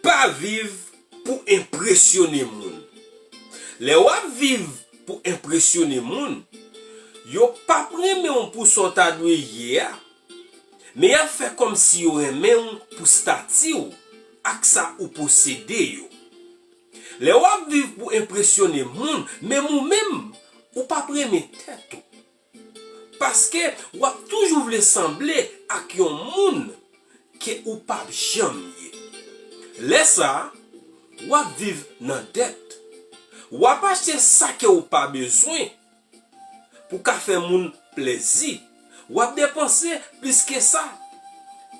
Pa viv pou enpresyone moun. Lè w ap viv pou enpresyone moun, yo pap renmen w pou sa w ta dwe ye a, men y ap fè kòmsi yo renmen w pou stati w ak sa ou posede yo. Lè w ap viv pou enpresyone moun, menm ou menm, ou pap renmen tèt ou. Paske wap toujou vle sanble ak yon moun ke ou pap janm ye. Lè sa, wap viv nan dèt. Wap achte sa ke ou pa bezwen pou ka fè moun plèzi. Wap depanse plis ke sa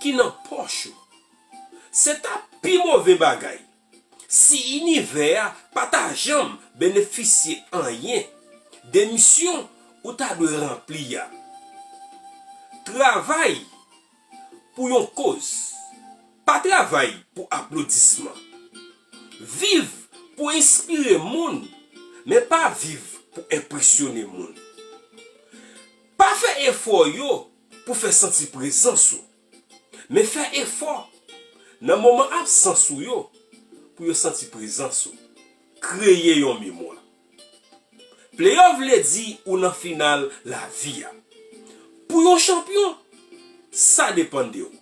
ki nan pòch ou. Se ta pi move bagay. si inivè a pa ta janm benefisye anyen de misyon ou ta dwe ranpli a. Travay pou yon koz, pa travay pou aplodisman. Viv pou enspire moun, men pa viv pou enpresyone moun. Pa fè efò yo pou fè santi prezans ou. Men fè efò, nan moman absans ou yo, pou yo santi prezans ou. Kreye yon memwa. Pleyòf vle di ou nan final lavi a. Pou yon chanpyon, sa depann de ou.